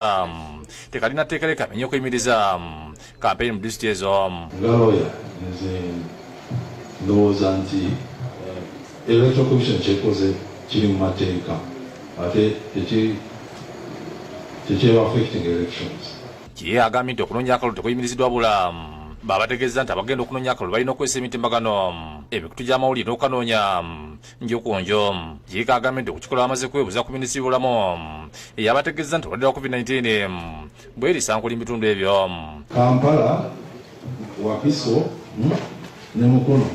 Um, tekalina tekere kamenye okuyimiriza um, kampeyini mu disitulikiti ezo um. nga looya nze ndowooza nti eh, electoral commission kyekoze kiri mu mateeka ate tekyeba affecting elections kiye agambye nti okunoonya akalulu tekuyimiriziddwa bula babategeeza nti abagenda okunoonya akalulu balina okukozesa emitimbagano emikutu gy'amawulire n'okukanoonya njukunjo yiika agambye nti okukikola bamaze kwebuza ku minisitiri bulamu eyabategeeza nti obadde wa covid-19 bwerisa nkuli mubitundu ebyo kampala wakiso hmm, ne mukono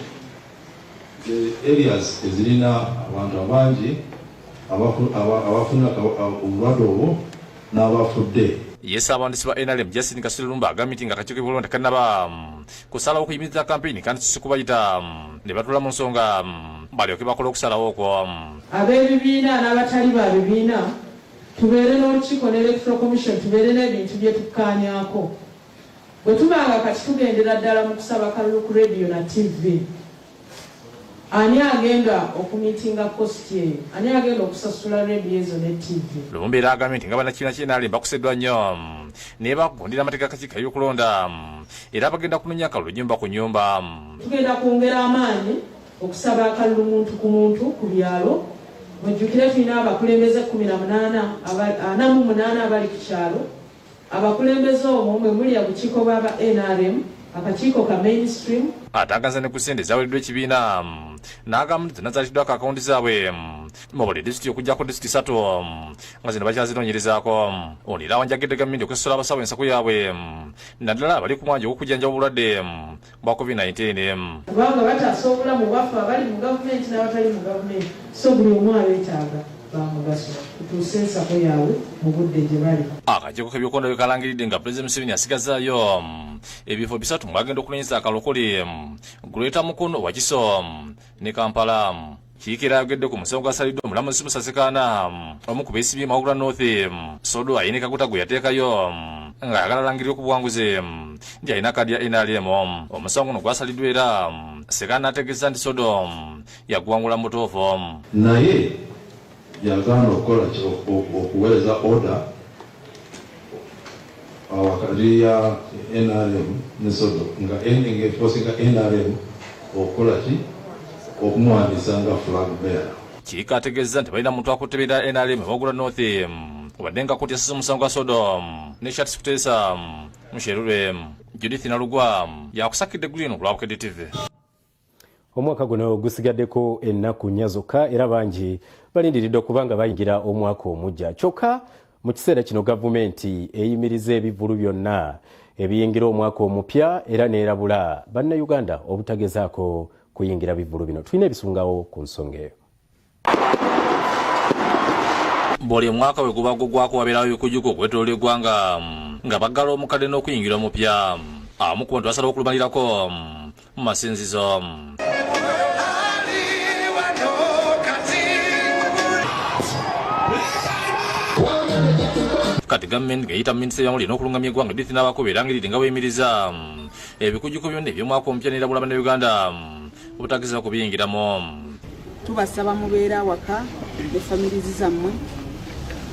areas ezirina abantu abangi abafuna obulwadde obwo n'abafudde ye saabawandiisi ba nrm justin kasulumba agambye nti nga akakiiko kebulonda kanaba kusalawo okuyimiriza kampeyini kandi kisikubayita mm, ne batula mu nsonga mm, balyoke bakola okusalawo okwo mm. ab'ebibiina n'abatali ba bibiina tubeere n'olukiiko ne electoral commission tubeere n'ebintu bye tukkaanyako bwe tubanga kati tugendera ddala mu kusaba kalulu ku rediyo na ttivi Ani agenda okumitinga cost eyo? Ani agenda okusasula radio ezo ne TV? Lumumba era agambye nti nga bannakibiina kye NRM bakuseddwa nnyo nebagondera amateeka kakiiko eby'okulonda era bagenda kunonya akalulu nyumba ku nyumba. Tugenda kwongera amaanyi okusaba akalulu muntu ku muntu ku byalo. Mujjukire tulina abakulembeze kkumi na munaana ana mu munaana abali ku kyalo Abakulembeze omwo mwe muli abukiiko bw'aba nrm, akakiiko ka mainstream, atangaza ne ku ssente ezaweereddwa ekibiina n'agamba nti zonna zaatiddwako akawunti zaabwe mu buli disitulikiti okuggyako disitulikiti ssatu nga zino bakyazinoonyerezaako ono era awanjagidde gavumenti okusosola abasawo ensaku yaabwe naddala abali ku mwanja ogw'okujjanjaba obulwadde bwa COVID-19. Kubanga bataasa obulamu bwaffe abali mu gavumenti n'abatali mu gavumenti so buli omu abeetaaga bamugaso kutuusa ensako yaabwe mu budde gye bali. Akakiiko k'ebyokulonda bwe kalangiridde nga Pulezidenti Museveni asigazaayo mm, ebifo bisatu mwagenda okulonyeza akalokole mm, Greater Mukono, Wakiso mm, ne Kampala. Kiikera ayogedde ku musango gwasaliddwa omulamuzi Musasikaana omu ku beesibye Mawugula North Sodo Ayini Kaguta gwe yateekayo ng'ayagala alangirire ku buwanguzi nti alina kaadi ya NRM. Omusango guno gwasaliddwa era Sekaana ategeeza nti Sodo yaguwangula mu butuufu. Naye Yagaana okukola ki? Okuweereza order wakati ya nrm ne Sodo nga ending efosinga nrm okukola ki? Okumuwandiisa nga flag bearer. Kiika ategeezza nti balina muntu akutte bira nrm Magula North wadde nga kkooti yasasa omusango gwa Sodo ne Shartis Kuteesa Musherure. Judith Nalugwa yakusakidde eggulu lino ku lwa Bukedde TV. omwaka guno gusigaddeko ennaku nnya zokka era bangi balindiridde okuba nga bayingira omwaka omujja kyokka mu kiseera kino gavumenti eyimiriza ebivulu byonna ebiyingira omwaka omupya era neerabula bannayuganda obutagezaako kuyingira bivulu bino tulina ebisungawo ku nsonga eyo buli omwaka bwe guba gugwako wabeerawo ebikujuko okwetolola eggwanga nga baggala omukadde n'okuyingira omupya amu ku bantu basala okulumalirako mu masinzizo kati gavumenti ng'eyita minisita yamuli n'okulungamya eggwanga edith n'abakuba era ngeri nga bweyimiriza ebikujuko byonna eby'omwaka omupya n'erabula bannayuganda obutagezaako kubiyingiramu tubasaba mubeere awaka ne famirizi zammwe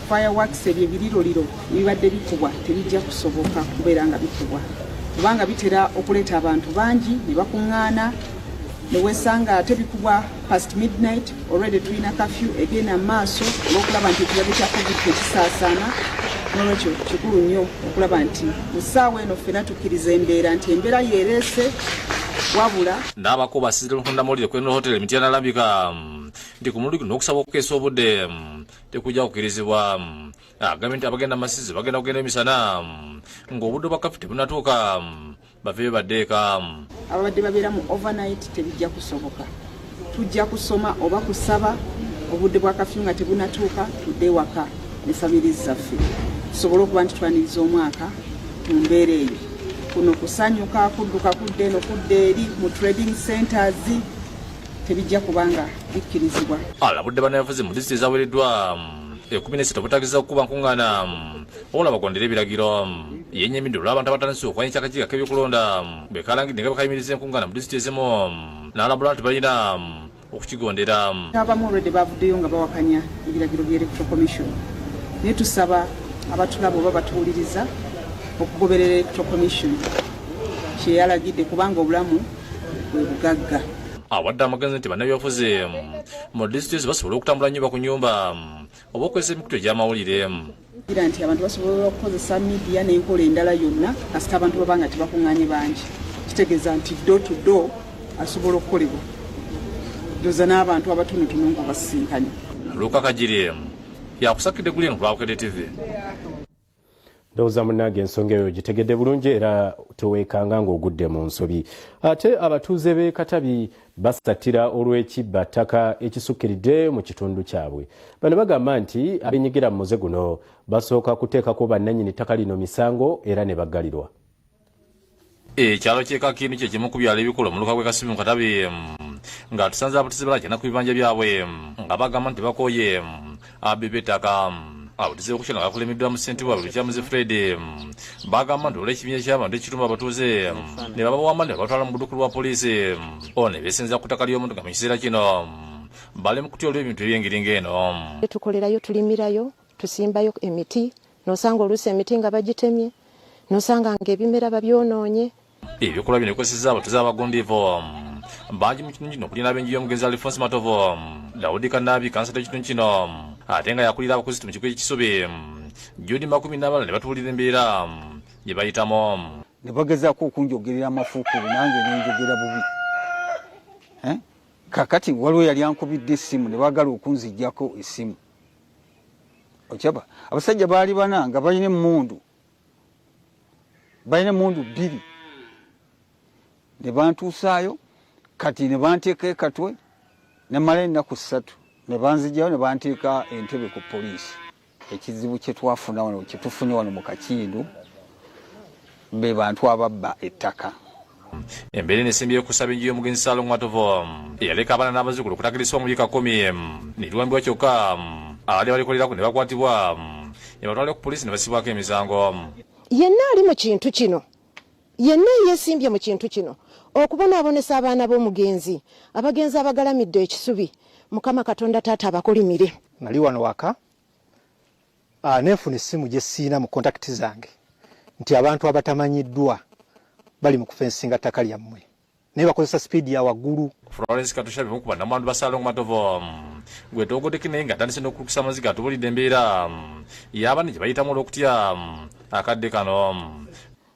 fireworks ebyo ebiriroliro ebibadde bikubwa tebijja kusoboka kubeera nga bikubwa kubanga bitera okuleeta abantu bangi ne bakuŋŋaana ne weesanga ate bikubwa past midnight Already tulina kafyu egenda mu maaso olw'okulaba nti ekirwadde kya covid tekisaasaana nolwekyo kikulu nnyo okulaba nti mu ssaawa eno ffena tukkiriza embeera nti embeera yeereese wabula n'abako basize luhundamawulire kweno hotele mityana alambika nti ku mulundi guno okusaba okukeesa obudde tekujja kukirizibwa agambye nti abagenda masizi bagenda kugenda emisana ng'obudde bwa kafi tebunatuuka bave badeeka ababadde babeera mu overnight tebijja kusoboka tujja kusoma oba kusaba obudde bwa kafyu nga tebunatuuka tudde waka ne famiri zaffe tusobole okuba nti twaniriza omwaka mu mbeera eyo kuno kusanyuka kudduka kudda eno kudda eri mu trading centers tebijja kubanga bikkirizibwa alabudde banayavuzi mu disiti ezawereddwa ekumi nesatu obutagiza okukuba nkuŋŋaana wabula bagondera ebiragiro yenyamidde olw'abantu abatandise okwanyisa akakiiko k'ebyokulonda bwe kalangidde nga bwekayimiriza enkungaana mu disitulikiti ezimu n'alabula nti balina okukigondera abamu olwedde bavuddeyo nga bawakanya ebiragiro bya electoral commission naye tusaba abatulaba oba batuwuliriza okugoberera electoral commission kyeyalagidde kubanga obulamu bwe bugagga awadde amagezi nti bannabyabufuzi mu disitulikiti basobola okutambula nyumba ku nyumba oba okozesa emikutu egy'amawulire Gira nti abantu basobola okukozesa midiya n'enkola endala yonna kasita abantu baba nga tebakunganye bangi kitegeeza nti do to do asobola okukolebwa doza n'abantu abatonotono nga basisinkanye luka kagiri emu yakusakidde guli eno kulwabukedde tv ndowooza munnange ensonga eyo gitegedde bulungi era tewekanga ng'ogudde mu nsobi ate abatuuze b'e katabi basattira olw'ekibba ttaka ekisukkiridde mu kitundu kyabwe bano bagamba nti abenyigira mu muze guno basooka kuteekako bannannyini ttaka lino misango era ne baggalirwa ekyalo kyekakini kyekimu ku byalo ebikulu omuluka gwe kasimu katabi nga tusanze abutizibala kyana ku bibanja byabwe nga bagamba nti bakoye abebetaka awo tuze okukyala nga kulemeddwa mu ssente waabwe lukyamuzi fred bagamba nti olw'ekibinya ky'abantu ekituma abatuuze ne babawamba ne babatwala mu buduku lwa poliisi ono ne beesenza ku ttaka ly'omuntu nga mu kiseera kino bali mu kutya olw'ebintu eby'engeri ng'eno tukolerayo tulimirayo tusimbayo emiti nosanga oluusi emiti nga bagitemye nosanga nga ebimera babyonoonye ebikolwa bino bikozesezza abatuze abagundiivu bangi mu kitundu kino okulina ab'enju y'omugenzi alifonsi matovu dawudi kanaabi kansala ekitundu kino ate nga yakulira abakuzitu mu kigo ekisubi judi makumi n'abalala ne batuulira embeera gye bayitamu ne bagezaako okunjogerera amafuukulu nange nenjogera bubi eh? kakati waliwo yali ankubidde essimu ne baagala okunzigyako essimu okyaba abasajja baali bana nga balina emmundu balina mundu bbiri ne bantuusaayo kati ne banteeka ekatwe ne mala ennaku ssatu ne banzijayo ne banteeka entebe ku poliisi ekizibu kye twafuna wano kye tufunye wano mu kakindu be bantu ababba ettaka embeera eno esimbyeyo okusaba enju y'omugenzi salongo matovu eyaleka abaana n'abazzukulu okutakirisibwa mu yiika kumi niriwambibwa kyokka abadde balikolerako ne bakwatibwa ne batwalira ku poliisi ne basibwako emisango yenna ali mu kintu kino yenna eyesimbye mu kintu kino okubonaabonesa abaana b'omugenzi abagenzi abagalamidde ekisubi mukama katonda taata abakolimire nali wano waka Ah, nefuna essimu gye siina mu kontakiti zange nti abantu abatamanyiddwa bali mu kufensinga ttaka lyammwe naye bakozesa sipiidi ya waggulu florence katushabe mukuba namwandu basalongo matovo gwe togodeki naye ngaatandise n'okulukisa amaziga atubulidde embeera yaabane gye bayitamu olw'okutya akadde kano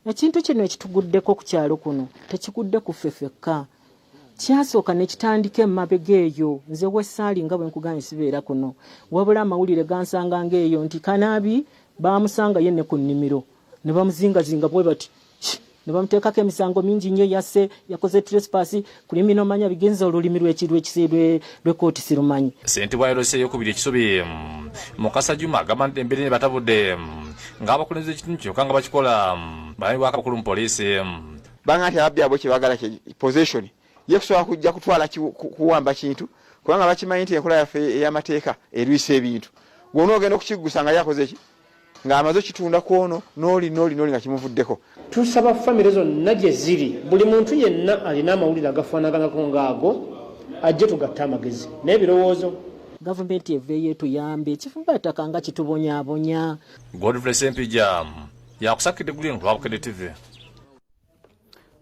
Ekintu kino ekituguddeko ku kyalo kuno tekigudde ku ffe fekka kyasooka ne kitandika emabega eyo nze wessaali nga bwe nkugambye sibeera kuno wabula amawulire gansanga ng'eyo nti kanaabi baamusangayo ne ku nnimiro ne bamuzingazinga bwe bati ne bamuteekako emisango mingi nnyo yasse yakoze trespass kulimi nomanya bigenza olulimi lwekisiilwekooti sirumanyi sentebwa yalose eyokubiri ekisubi mukasa juma agamba nti embiri nebatabudde ng'abakulembeze ekitundu kino kanga bakikola balani bwakabakulu mu poliisi banga nti ababbi abo kyebagala possession ye kusobola kujja kutwala kuwamba kintu kubanga bakimanyi nti enkola yaffe ey'amateeka erwisa ebintu gwona ogenda okukiggusa nga yakoze ki ng'amaze okitunda ku ono n'oli n'oli n'oli nga kimuvuddeko tusaba famire zonna gye ziri buli muntu yenna alina amawulire agafaanaganako ng'ago ajje tugatte amagezi naye birowoozo gavumenti eveeyo etuyambe ekifumbataka nga kitubonyabonya godfrey sempija yakusakidde gulino lwabukedde tv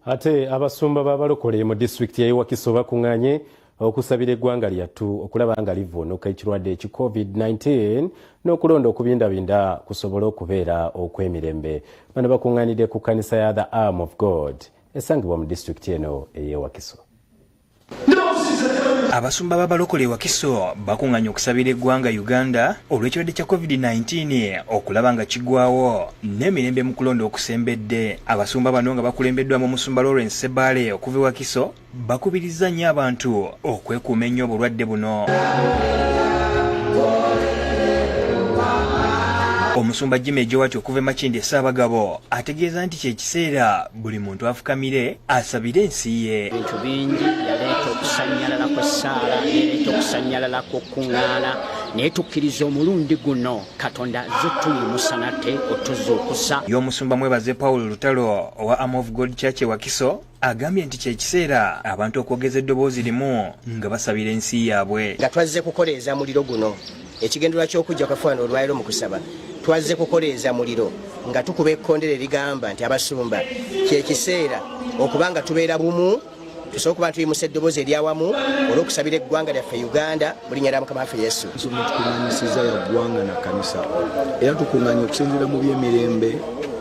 ate abasumba b'abalokole mu disitulikiti y'e wakiso bakunganye okusabira eggwanga lyattu okulaba nga livvuunuka ekirwadde eki covid-19 n'okulonda okubindabinda kusobole okubeera okw'emirembe bano bakunganidde ku kanisa ya the arm of god esangibwa mu disitulikiti eno ey'ewakiso Abasumba b'abalokole e Wakiso bakunganye okusabira eggwanga Uganda olw'ekirwadde kya COVID-19 okulaba nga kigwawo n'emirembe mu kulonda okusembedde. Abasumba bano nga bakulembeddwamu omusumba Lawrence Sebaale okuva e Wakiso bakubirizza nnyo abantu okwekuuma ennyo obulwadde buno. omusumba jima ejowati okuva emakindi esaabagabo ategeeza nti kyekiseera buli muntu afukamire asabire ensi ye bintu bingi yaleeta okusanyalala kw'essaala yaleeta okusanyalala kw'okukuŋŋaana naye tukkiriza omulundi guno katonda azze tuyimusa nate otuzuukusa y'omusumba mwebaze paul lutalo owa am of god church e wakiso agambye nti kyekiseera abantu okwogeza eddoboozi limu nga basabira ensi yaabwe nga twazze kukoleeza muliro guno Ekigendererwa ky'okujja kwa fwana olwaliro mu kusaba twazze kukoleeza muliro nga tukuba ekkondero erigamba nti abasumba kyekiseera okuba nga tubeera bumu tusobola okuba ntuyimuse eddoboozi eryawamu olw'okusabira eggwanga lyaffe uganda mu linnya lya mukama waffe yesu tukuŋanyisiza ya ggwanga na kanisa era tukuŋanya okusinzira mu byemirembe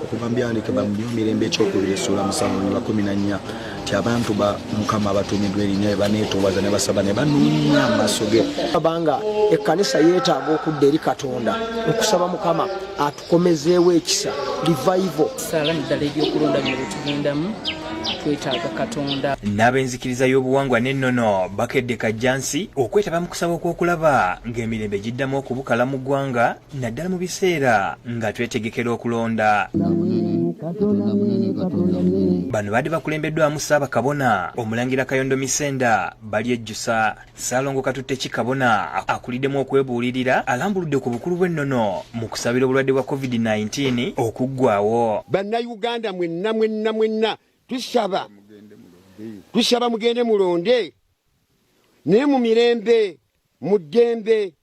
okuva mu byandikibwa mu byomirembe ekyokubiri essuula musanvu ne bakumi na nnya nti abantu ba mukama abatuumidwa erinya we baneetoowaza ne basaba ne banoonya amaaso ge abanga ekkanisa yeetaaga okudda eri katonda okusaba mukama atukomezeewo ekisa livaivo saala naddala ebyokulonda bye byetugendamu twetaaga katonda n'ab'enzikiriza y'obuwangwa n'ennono bakedde kajjansi okwetaba mu kusaba okw'okulaba ng'emirembe giddamu okubukala mu ggwanga naddala mu biseera nga twetegekera okulonda bano baadde bakulembeddwamu ssaabakabona omulangira kayondo misenda balyejjusa ssaalongo katutte ki kabona akuliddemu okwebuulirira alambuludde ku bukulu bw'ennono mu kusabira obulwadde bwa covid-19 okuggwawo bannayuganda mwenna mwenna mwenna tusaba tusaba mugende mulonde naye mu mirembe mu ddembe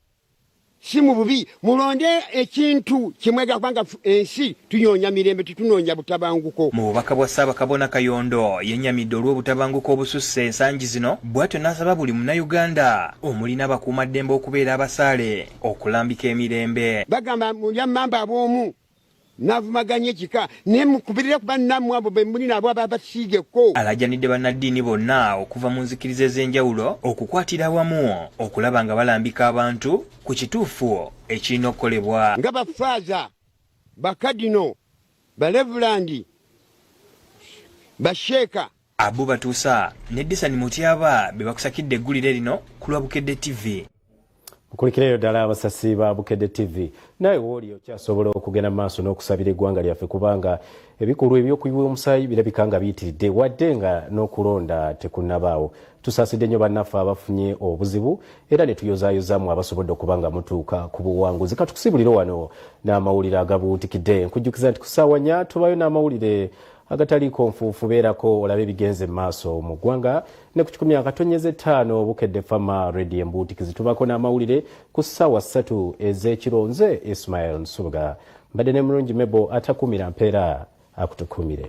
si mu bubi mulonde ekintu kimwega kubanga ensi tunyonya mirembe tetunoonya butabanguko mu bubaka bwa ssaabakabona kayondo yenyamidde olw'obutabanguko obususse ensangi zino bw'atyo n'asaba buli munnayuganda omuli n'abakuumaddembe okubeera abasaale okulambika emirembe bagamba mulya mmamba ab'omu navumaganye kika naye mukubirire kuba nammwe abo bemuli nabo aba basiigeko alajanidde bannaddiini bonna okuva mu nzikiriza ez'enjawulo okukwatira awamu okulaba nga balambika abantu ku kituufu ekirina okukolebwa nga bafaaza bakadino balevulandi basheeka Abu Batuusa ne Disani Mutyaba be bakusakidde eggulire lino ku lwa Bukedde TV. nkulikireyo ddala abasasi ba bukedde tv naye wooli okyasobola okugenda maaso n'okusabira eggwanga lyaffe kubanga ebikolwa ebyokuyiwa omusaayi birabika nga biyitiridde wadde nga n'okulonda tekunabaawo tusaasidde nnyo bannaffe abafunye obuzibu era ne tuyozaayozamu abasobodde okuba nga mutuuka ku buwanguzi katukusibulire wano n'amawulire agabuutikidde nkujjukiza nti ku ssaawa nya tubayo n'amawulire agataliiko nfuufu beerako olabe ebigenze mu maaso mu ggwanga ne ku kikumi akatonyeza ettaano bukedde fama redi embuutiki zitubako n'amawulire ku ssaawa ssatu ez'ekiro nze ismail nsubuga mbadde ne mulungi mebo atakuumira mpeera akutukuumire